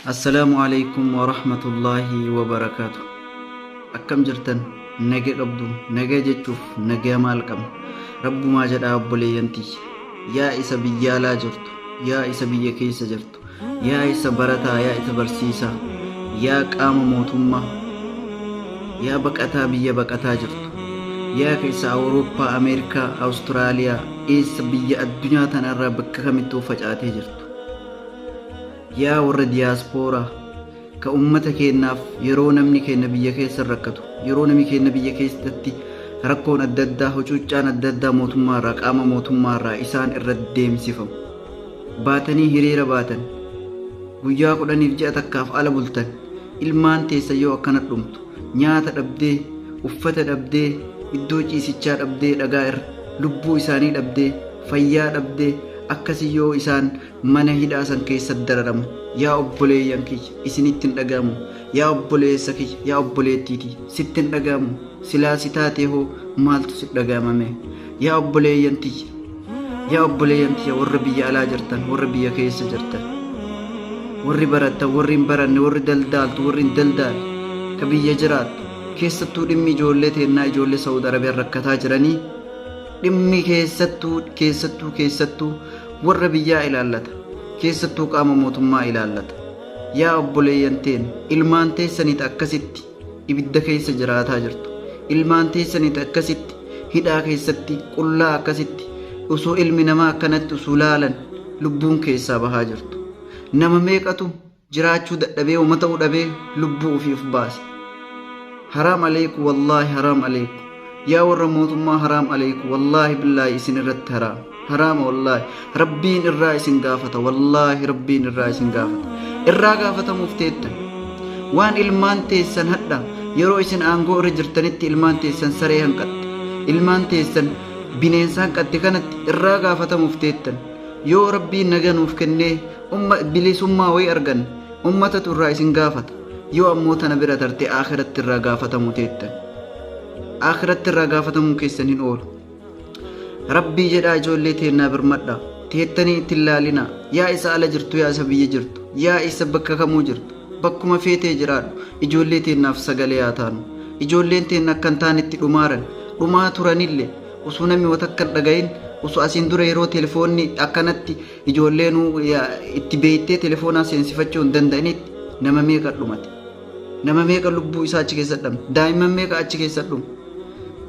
Assalaamu alaikum wa rahmatullaahi wa barakaatu. Akkam jirtan nagee dhabdu nagee jechuuf nagee maal qabna rabbumaa jedhaa obboleeyyan tiyya yaa isa biyyaalaa jirtu yaa isa biyya keessa jirtu yaa isa barataa yaa isa barsiisaa yaa qaama mootummaa yaa baqataa biyya baqataa jirtu yaa keessa awurooppaa ameerikaa awustiraaliyaa eessa biyya addunyaa tanarraa bakka kamittuu facaatee jirtu yaa warra diyaaspooraa ka ummata keennaaf yeroo namni keenna biyya keessa rakkatu yeroo namni keenna biyya keessatti rakkoon adda addaa hucuuccaan adda addaa mootummaa irraa qaama mootummaa irraa isaan irra deemsifamu baatanii hiriira baatan guyyaa kudhaniif ji'a takkaaf ala bultan ilmaan teessa yoo akkana dhumtu nyaata dhabdee, uffata dhabdee, iddoo ciisichaa dhabdee dhagaa irra, lubbuu isaanii dhabdee, fayyaa dhabdee, akkasi yoo isaan mana hidhaa san keessa dararamu, yaa obboleeyyan kiyya, isinitti hin dhaga'amu, yaa obboleessa kiyya, yaa obboleettii tiyya, sitti hin dhaga'amu, silaa si taatee hoo maaltu si dhaga'ama mee, yaa obboleeyyan tiyya! yaa obboleeyyan tiyya warra biyya alaa jirtan warra biyya keessa jirtan warri barattan warri hin baranne warri daldaaltu warri hin daldaalle ka biyya jiraattu keessattuu dhimmi ijoollee teennaa ijoollee saawud arabiyaan rakkataa jiranii dhimmi keessattuu keessattuu keessattuu warra biyyaa ilaallata keessattuu qaama mootummaa ilaallata yaa obboleeyyan teen ilmaan teessaniit akkasitti ibidda keessa jiraataa jirtu ilmaan teessanit akkasitti hidhaa keessatti qullaa akkasitti usuu ilmi namaa akkanatti usuu laalan lubbuun keessaa bahaa jirtu nama meeqatu jiraachuu dadhabee uma ta'uu dhabee lubbuu ofiif baase haraam aleeku wallaahi haraam aleeku Yaa warra mootummaa haraam aleeyku wallaahi billaahi isin irratti haraam haraama wallaahi rabbiin irraa isin gaafata wallaahi rabbiin irraa isin gaafata irraa gaafatamuuf teettan waan ilmaan teessan hadha yeroo isin aangoo irra jirtanitti ilmaan teessan saree hanqatte ilmaan teessan bineensa hanqatte kanatti irraa gaafatamuuf teettan yoo rabbiin naga nuuf kennee umma bilisummaa way argan ummatatu irraa isin gaafata yoo ammoo tana bira tarte akhiratti irraa gaafatamu teettan Akhiratti irraa gaafatamuun keessan hin oolu. Rabbii jedhaa ijoollee teennaa birmadha. Teettanii itti hin laalina. Yaa isa ala jirtu yaa isa biyya jirtu. Yaa isa bakka kamuu jirtu. Bakkuma feetee jiraadhu. Ijoollee teennaaf sagalee haa taanu. Ijoolleen teenna akka hin taanetti dhumaaran. Dhumaa turanille osoo namni wata akka hin dhagayin osoo asiin dura yeroo telefoonni akkanatti ijoolleen itti beektee telefoonaa seensifachuu hin danda'initti nama meeqa dhumate. Nama meeqa lubbuu isaa achi keessa dhabne? Daa'imman meeqa achi keessa dhume?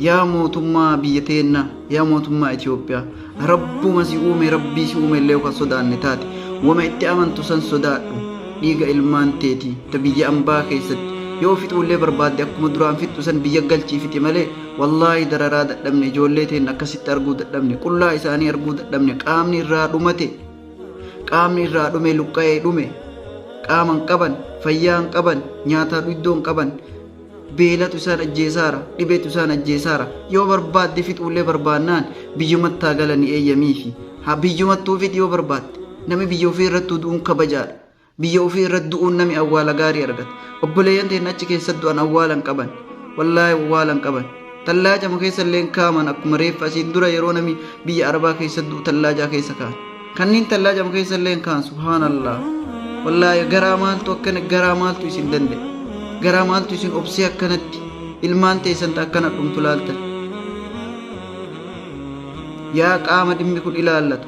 Yaa mootummaa biyya teennaa, yaa mootummaa Itoophiyaa, rabbuma si uume rabbii si uume illee kan sodaanne taate, wama itti amantu san sodaadhu. Dhiiga ilmaan teetii ta biyya ambaa keessatti yoo fixuullee barbaadde akkuma duraan fixxu san biyya galchii fixi malee wallaahi dararaa dadhabne ijoollee teenna akkasitti arguu dadhabne qullaa isaanii arguu dadhabne qaamni irraa dhumate Qaamni irraa dhume luqqa'ee dhume. Qaama hin qaban, fayyaa hin qaban, nyaataa iddoo hin qaban. Beelatu isaan ajjeesaara, dhibeetu isaan ajjeesaara. Yoo barbaadde fixuullee barbaannaan biyyumattaa galanii eeyyamiifi. Haa biyyumattuu fixi yoo barbaadde. Namni biyya ofii irratti du'uun kabajaadha. Biyya ofii irratti du'uun nami awwaala gaarii argata. Obboleeyyan teenna achi keessatti du'an awwaala hin qaban. Wallaahi awwaala hin qaban. Tallaajama keessa illee hin kaa'aman akkuma reeffa asiin dura yeroo nami biyya Arabaa keessatti du'u tallaajaa keessa kaa'an. Kanniin tallaajama keessa illee hin kaa'an subhaanallaah. Wallaahi garaa maaltu akkana garaa maaltu isin danda'e. Garaa maaltu isin obsee akkanatti ilmaan teessan ta akkana dhumtu laaltan. Yaa qaama dhimmi kun ilaallatu.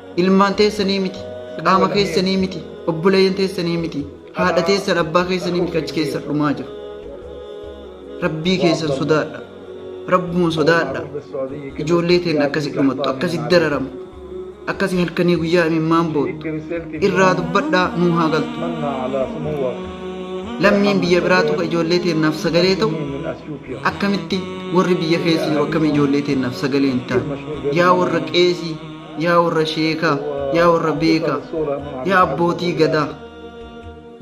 ilmaan teessanii miti qaama keessanii miti obboleeyyan teessanii miti haadha teessan abbaa keessanii miti achi keessan dhumaa jiru rabbii keessan sodaadha rabbuun sodaadha ijoollee teen akkasi dhumattu akkasi dararamu akkasi halkanii guyyaa imimmaan boottu irraa dubbadhaa nuu haa galtu lammiin biyya biraa tuqa ijoollee teennaaf sagalee ta'u akkamitti warri biyya keessa jiru akkami ijoollee teennaaf sagalee hin taane yaa warra qeesii yaa warra sheekaa, yaa warra beekaa, yaa abbootii gadaa,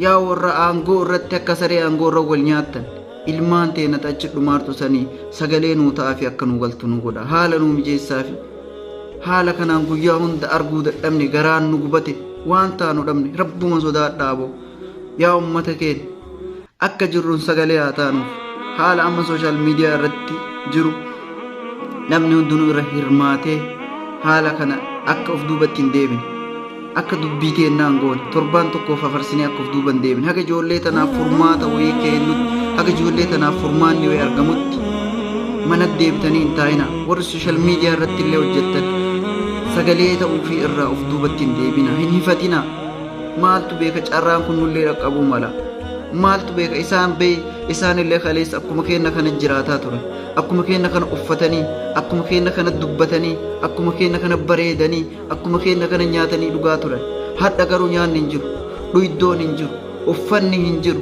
yaa warra aangoo irratti akka saree aangoo irra wal nyaattan, ilmaan teena achi dhumaartu sanii sagalee nuu ta'aafi akka nuu galtu nu godha. Haala nuu mijeessaafi. Haala kanaan guyyaa hunda arguu dadhabne garaan nu gubate waan taanu dhabne rabbuma sodaadhaa boo. Yaa ummata keenya Akka jirruun sagalee haa taanuuf haala amma sooshaal miidiyaa irratti jiru namni hundinuu irra hirmaatee haala kana akka of duubatti hin deebine akka dubbii teennaan goone torbaan tokkoof hafarsinee akka of duuba hin deebine haga ijoollee tanaaf furmaata wayii keennutti haga ijoollee tanaaf furmaanni wayii argamutti mana deebitanii hin taa'ina warri sooshaal miidiyaa irratti illee hojjettan sagalee ta'uu fi irraa of duubatti hin deebina hin hifatina Maaltu beeka carraan kun nullee dhaqqabuu mala. Maaltu beeka isaan bee isaanillee kaleessa akkuma keenna kana jiraataa ture. Akkuma keenna kana uffatanii, akkuma keenna kana dubbatanii, akkuma keenna kana bareedanii, akkuma keenna kana nyaatanii dhugaa turan. Hadha garuu nyaanni hin jiru, dhuyiddoon hin jiru, uffanni hin jiru.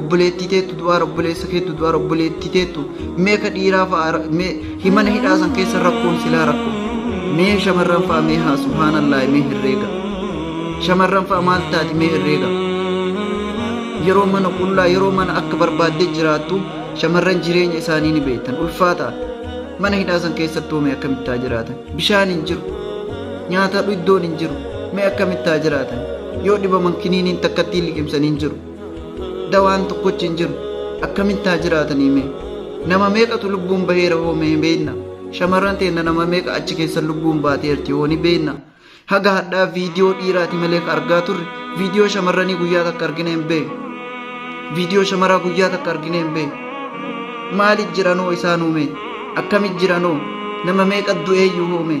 obboleettii teettu du'aara obboleessa keettu du'aara obboleettii teettu mee ka dhiiraa fa'a ra- mee himana hidhaa san keessa rakkoon silaa rakko mee shamarran fa'a mee haa subhaanallaahi mee herreega shamarran fa'a maal taati mee herreega yeroo mana qullaa yeroo mana akka barbaadde jiraattu shamarran jireenya isaanii ni beektan ulfaata mana hidhaa san keessatti hoomee akkamittaa jiraatan bishaan hin jiru nyaata iddoon hin jiru mee akkamittaa jiraatan yoo dhibaman kiniiniin takkattiin liqimsan hin jiru dawaan tokkochi hin jiru akkamitti haa jiraatanii mee nama meeqatu lubbuun baheera hoo mee beekna shamarran teenna nama meeqa achi keessa lubbuun baateerti hoo ni beekna haga hadhaa viidiyoo dhiiraati malee ka argaa turre viidiyoo shamarranii guyyaa takka argine hin beekne viidiyoo shamaraa guyyaa takka argine hin beekne maaliif jiranoo isaanuu mee akkamit jiranoo nama meeqa du'eeyyuu hoo mee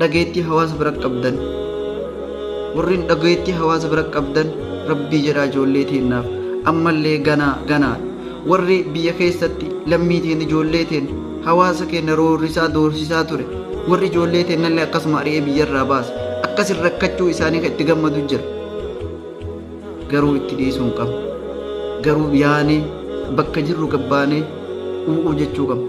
dhageettii hawaasa bira qabdan warreen dhageettii hawaasa bira qabdan rabbii jedhaa ijoollee teennaaf ammallee ganaa ganaa warri biyya keessatti lammii teen ijoollee teen hawaasa keenya roorrisaa doorsisaa ture warri ijoollee teennallee akkasuma ari'ee biyyarraa baase akkasin rakkachuu isaanii kan itti gammadu jira garuu itti dhiisuu hin qabnu garuu yaanee bakka jirru gabbaanee u'uu jechuu qabna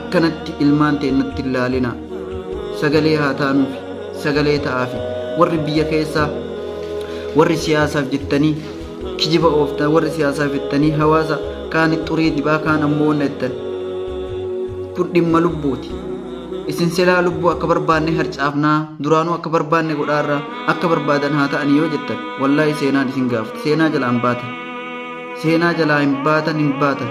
akkanatti ilmaan teennatti hin laalina sagalee haa taanuufi sagalee ta'aafi warri biyya keessaa warri siyaasaaf jettanii kijiba ooftan warri siyaasaaf jettanii hawaasa kaan xurii dibaa kaan ammoo wanna jettan kun dhimma lubbuuti isin silaa lubbuu akka barbaanne harcaafnaa duraanuu akka barbaanne godhaarraa akka barbaadan haa ta'anii yoo jettan wallaahi seenaan isin gaafta seenaa jalaa hin baatan seenaa jalaa hin baatan hin baatan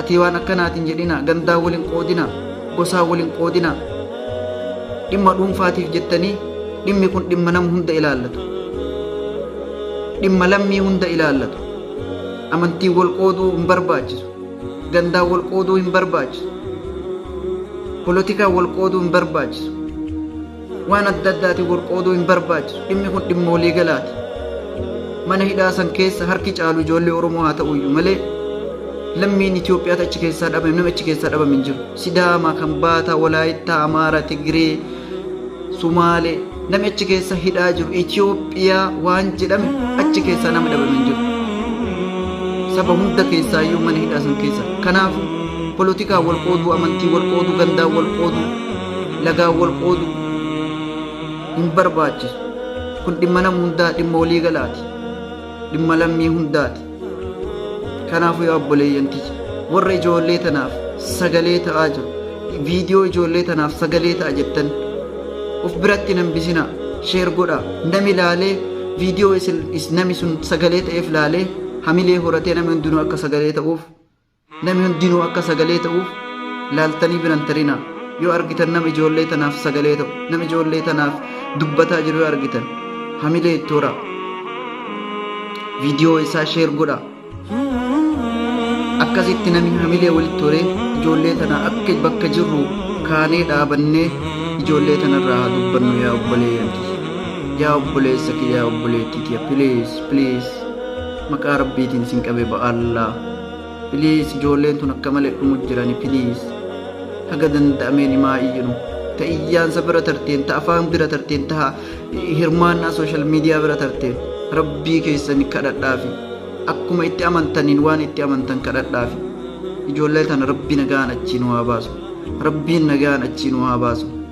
Atii waan akkanaa tin jedhina gandaa wal hin qoodina gosaa wal hin qoodina dhimma dhuunfaatiif jettanii dhimmi kun dhimma nama hunda ilaallatu dhimma lammii hunda ilaallatu amantiin wal qooduu hin barbaachisu gandaa wal qooduu hin barbaachisu polotikaa wal qooduu hin barbaachisu waan adda addaatiin wal qooduu hin barbaachisu dhimmi kun dhimma walii galaati mana hidhaa san keessa harki caalu ijoollee oromoo haa ta'u iyyuu malee lammiin Itoophiyaatti achi keessaa dhabame nama achi keessaa dhabame hin jiru sidaama kan baataa walaayittaa amaara tigiree sumaalee namni achi keessa hidhaa jiru Itoophiyaa waan jedhame achi keessaa nama dhabame hin jiru saba hunda keessaa iyyuu mana hidhaa san keessa kanaaf polotikaa wal qooduu amantii wal qooduu gandaa wal qooduu lagaan wal qoodu hin barbaachisu. Kun dhimma nama hundaa dhimma walii galaati. Dhimma lammii hundaati. Kanaafuu yaa obboleeyyan kiyya warra ijoollee tanaaf sagalee ta'aa jiru. Viidiyoo ijoollee tanaaf sagalee ta'a jettan of biratti hin hambisinaa sheer godhaa nami laalee viidiyoo isin nami sun sagalee ta'eef laalee hamilee horatee nami hundinuu akka sagalee ta'uuf Nami hundinuu akka sagalee ta'uuf laaltanii bira hin tarinaa. Yoo argitan nama ijoollee tanaaf sagalee ta'u, nama ijoollee tanaaf dubbataa jiru yoo argitan, hamilee itti horaa. Viidiyoo isaa sheer godhaa. Akkasitti nami hamilee walitti horee ijoollee tana akka bakka jirru kaanee dhaabannee ijoollee tanarraa haa dubbannu yaa obboleeyyan kiyya. Yaa obboleessa kiyya, yaa obboleettii tiyya, please, please. Maqaa Rabbiitiin sin qabe ba'allaa. Please ijoolleen tun akka malee dhumu jirani please. Haga danda'ameen himaa iyyinu. Ta iyyaansa bira tarteen, ta afaan bira tarteen, ta hirmaannaa sooshaal miidiyaa bira tarteen. Rabbii keessan kadhadhaafi. Akkuma itti amantaniin waan itti amantan kadhadhaafi. Ijoollee tana rabbi nagaan achii nu haa baasu. Rabbiin nagaan achii nu haa baasu.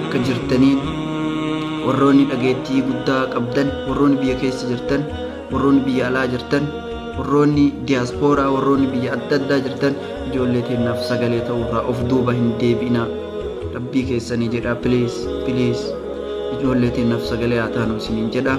akka jirtaniin warroonni dhageettii guddaa qabdan warroonni biyya keessa jirtan warroonni biyya alaa jirtan warroonni diyaaspooraa warroonni biyya adda addaa jirtan ijoollee teennaaf sagalee ta'uurraa of duuba hin deebi'inaa rabbii keessanii jedhaa piliis piliis ijoollee teennaaf sagalee haa taanu isiniin jedhaa